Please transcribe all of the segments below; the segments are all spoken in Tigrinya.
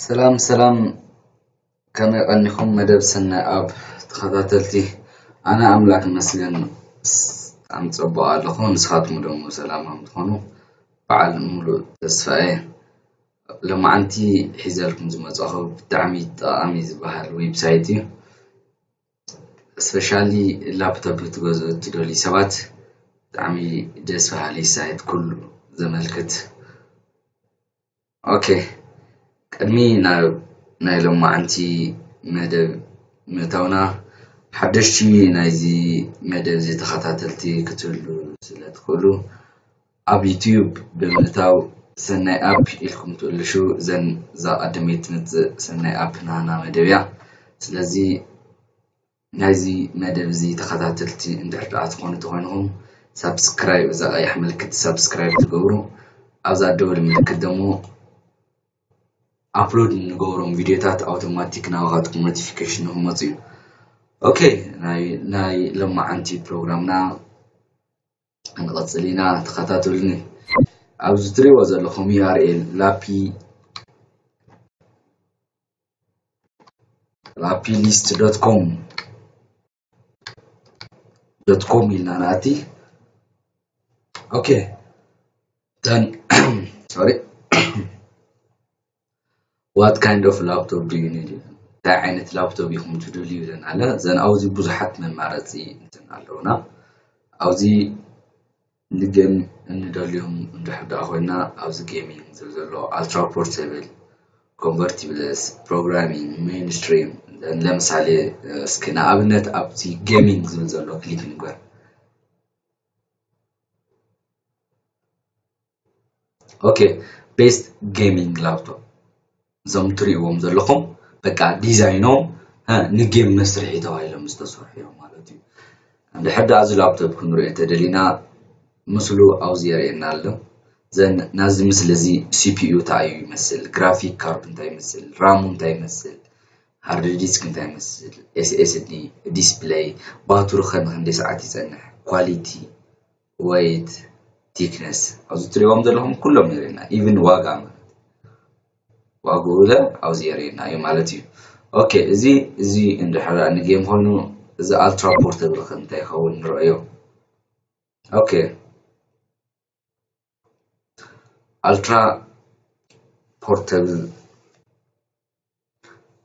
ሰላም ሰላም ከመይ ቀኒኹም መደብ ሰናይ ኣብ ተኸታተልቲ ኣነ ኣምላክ ይመስገን ብጣዕሚ ፅቡቅ ኣለኹ ንስኻትኩም ደሞ ሰላም ከም ትኾኑ በዓል ሙሉእ ተስፋ እየ ሎማዓንቲ ሒዘልኩም ዝመፃኹ ብጣዕሚ ጠቓሚ ዝበሃል ዌብሳይት እዩ። ስፔሻሊ ላፕቶፕ ክትገዝኡ እትደልዩ ሰባት ብጣዕሚ ደስ በሃሊ ሳይት ኩሉ ዘመልክት ኦኬ ቅድሚ ናብ ናይ ሎማዓንቲ መደብ ምእታውና ሓደሽቲ ናይዚ መደብ እዚ ተኸታተልቲ ክትህልዉ ስለ ትኽእሉ ኣብ ዩቱዩብ ብምእታው ሰናይ ኣፕ ኢልኩም ትእልሹ ዘን እዛ ቀዳመይቲ ትመጽእ ሰናይ ኣፕ ናህና መደብ እያ ስለዚ ናይዚ መደብ እዚ ተኸታተልቲ እንድሕር ደኣ ትኾኑ ተኾይንኹም ሳብስክራይብ እዛ ቀያሕ ምልክት ሳብስክራይብ ትገብሩ ኣብዛ ደወል ምልክት ደሞ ኣፕሎድ እንገብሮም ቪድዮታት ኣውቶማቲክ ናባኻትኩም ኖቲፊኬሽን ንክመፁ እዩ ኦኬ ናይ ሎማዓንቲ ፕሮግራምና ክንቅጽል ኢና ተኸታተሉኒ ኣብዚ ትሪእዎ ዘለኹም URL ላፒ ላፒ ሊስት ዶት ኮም ዶት ኮም ኢልና ንኣቲ ኦኬ ተን ሶሪ What kind of laptop do you need እንታይ ዓይነት ላፕቶፕ ኢኹም ትደልዩ ኢለን ኣለ ዘን ኣብዚ ብዙሓት መማረፂ እንትን ኣለውና ኣብዚ ንጌም እንደልዮም እንድሕር ደኣ ኮይና ኣብዚ ጌሚንግ ዝብል ዘሎ ኣልትራ ፖርቴብል ኮንቨርቲብለስ ፕሮግራሚንግ ሜንስትሪም ለምሳሌ እስኪ ንኣብነት ኣብዚ ጌሚንግ ዝብል ዘሎ ክሊክ ንግበር ኦኬ ቤስት ጌሚንግ ላፕቶፕ እዞም ትሪእዎም ዘለኹም በቃ ዲዛይኖም ንጌም መስርሒ ተባሂሎም ዝተሰርሑ እዮም ማለት እዩ ድሕር ዳኣ እዚ ላፕቶፕ ክንሪኦ ተደሊና ምስሉ ኣብዚ የርእየና ኣሎ ዘን ናዚ ምስሊ እዚ ሲፒዩ እንታይ እዩ ይመስል ግራፊክ ካርድ እንታይ ይመስል ራሙ እንታይ ይመስል ሃርድ ዲስክ እንታይ ይመስል ኤስኤስዲ ዲስፕለይ ባትሪ ከ ንክንደይ ሰዓት ይፀንሕ ኳሊቲ ወይት ቲክነስ ኣብዚ ትሪእዎም ዘለኹም ኩሎም የርእየና ኢቭን ዋጋ ዋግኡ ለ ኣብዚ የርእየና እዩ ማለት እዩ ኦኬ እዚ እዚ እንድሕር ንጌም ኮይኑ እዚ ኣልትራ ፖርተብል ከ እንታይ ይኸውን ንረኣዮ ኦኬ ኣልትራ ፖርተብል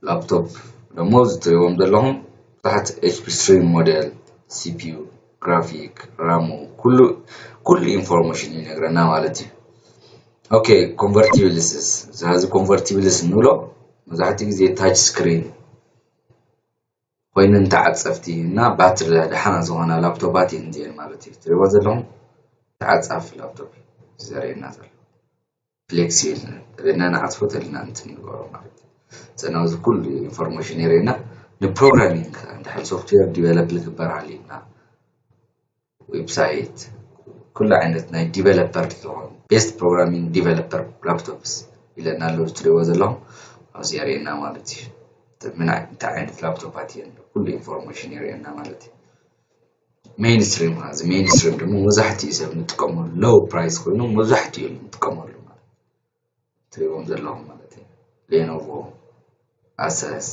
ላፕቶፕ ደሞ እዚ ትሪእዎም ዘለኹም ብዙሓት ኤችፒ ስትሪም ሞዴል ሲፒዩ ግራፊክ ራሙ ኩሉ ኩሉ ኢንፎርሜሽን ይነግረና ማለት እዩ ኦኬ ኮንቨርቲብልስስ እዚ ኮንቨርቲብልስ ንብሎ መብዛሕትኡ ግዜ ታች ስክሪን ኮይነን ተዓፀፍቲ እና ባትሪ ደሓና ዝኾና ላፕቶፓት እየን እዚአን ማለት እዩ ትሪእዎ ዘለኹም ተዓፃፊ ላፕቶፕ እዩ ዘርእየና ዘሎ ፍሌክሲብል ነን እብና ንዓጽፎ ተልና ንቲ ንበሮ ማለት ዘናውዚ ኩሉ ኢንፎርሜሽን የርእና ንፕሮግራሚንግ እንድሕር ሶፍትዌር ዲቨሎፕ ልግበር ኣልዩና ዌብሳይት ኩሉ ዓይነት ናይ ዲቨሎፐር ዝኾኑ ቤስት ፕሮግራሚንግ ዲቨሎፐር ላፕቶፕስ ኢለና ኣለዉ ዝትሪእዎ ዘለኹም ኣብዚ የርእየና ማለት እዩ እንታይ ዓይነት ላፕቶፓት እየን ኩሉ ኢንፎርሜሽን የርእየና ማለት እዩ ሜይን ስትሪም ማለት እዚ ሜይን ስትሪም ድማ መብዛሕትኡ ሰብ ንጥቀመሉ ሎው ፕራይስ ኮይኑ መብዛሕትኡ ንጥቀመሉ ማለት ትሪቦም ዘለኹም ማለት እዩ ሌኖቮ ኣሰስ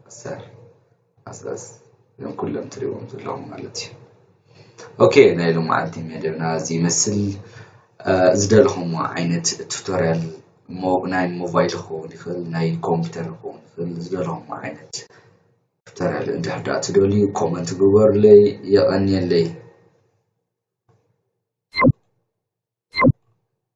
ኣሰር ኣሰስ እዞም ኩሎም ትሪቦም ዘለኹም ማለት እዩ ኦኬ ናይ ሎም መዓልቲ መደብና እዚ ይመስል ዝደለኹምዎ ዓይነት ቱቶሪያል ናይ ሞባይል ክኸውን ይኽእል ናይ ኮምፒተር ክኸውን ይኽእል ዝደለኹምዎ ዓይነት ክተረል እንድሕር ድኣ ትደልዩ ኮመንት ግበሩለይ የቀንየለይ።